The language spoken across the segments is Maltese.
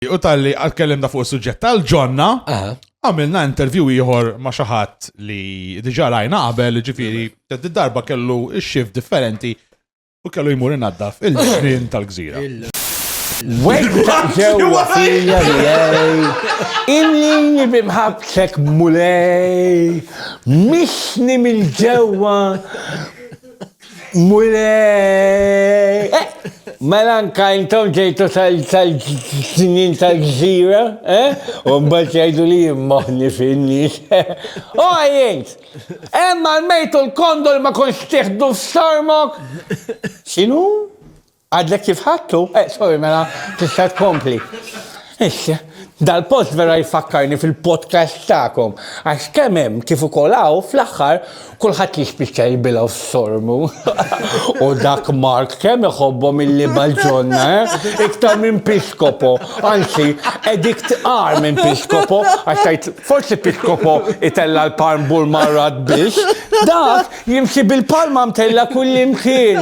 U tal-li għal-kellimna fuq il-sujġet tal-ġonna, għamilna intervju ieħor ma' xaħat li diġa rajna qabel, ġifiri, darba kellu xif differenti u kellu jmur innaddaf il-ġnien tal-gżira. Wegħda ġewwa fija jgħej, inni bimħabsek mulej, mixni mill-ġewwa, Mulej! Mela anka intom ġejtu tal-snin tal-ġżira, eh? U mbagħad jgħidu li jimmoħni fin-nies. O jgħid! Hemm għal-mejtu l-kondu li ma konx tieħdu f'sormok! X'inhu? Għadlek kif ħadtu? Eh, sorry, mela, tista' tkompli. Issa, dal-post vera jfakkarni fil-podcast tagħkom, għax kemm hemm kif ukoll hawn fl-aħħar kulħadd jispiċċa jibilgħu f'sormu. U dak Mark kemm iħobbhom illi balġonna, eh? Iktar minn piskopo, anzi, edik tqar minn piskopo, għax tajt forsi piskopo itella l-palm bur marrat biex, dak jimxi bil-palma mtella kullimkien.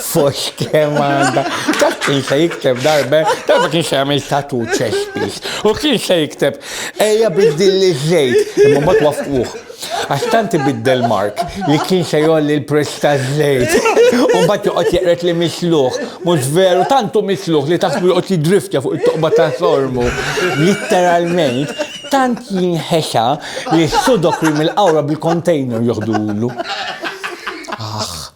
Fox kemm għandha. Dak kien se jikteb darbe, darba kien se jagħmel tatu ċespis. U kien se jikteb ejja biddil li żejt, imma ma twaffquh. Għax tant ibiddel Mark li kien se jolli l-prezz ta' żejt. U mbagħad joqgħod jeqret li misluħ, mhux veru tantu misluħ li taħsbu joqgħod jidriftja fuq it-toqba ta' sormu. Litteralment, tant jinħexa li s-sudok mill-qawra bil-container joħdulu. Aħ.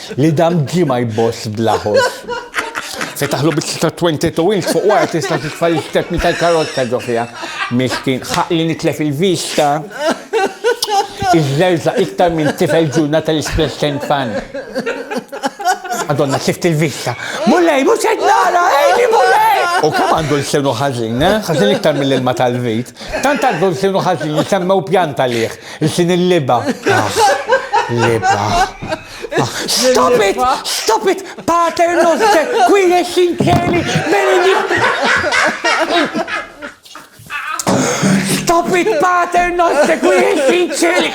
Li dam ġie ma jboss bla ħoss. Fetaħlu biċċa ta' 22 inch fuq wara tista' titfa' l-istepni tal-karozza ġo fiha. Miskin, ħaqq li nitlef il-vista. Iżżerżaq iktar minn tifel ġurna tal-isplussjoni fan. Madonna, tlift il-vista. Mulej, mhux qed nara, għeni Mulej! U kemm għandu lsinu ħażin, eh? Ħażin iktar mill-ilma tal-vit. Tant għandu lsinu ħażin li semmew pjanta lih, lsien il-libgħa. Aħ, libgħa. Stop it! Stop it! Pater noster, qui es in celi, Stop it, pater noster, qui es in celi.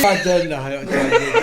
Pater noster.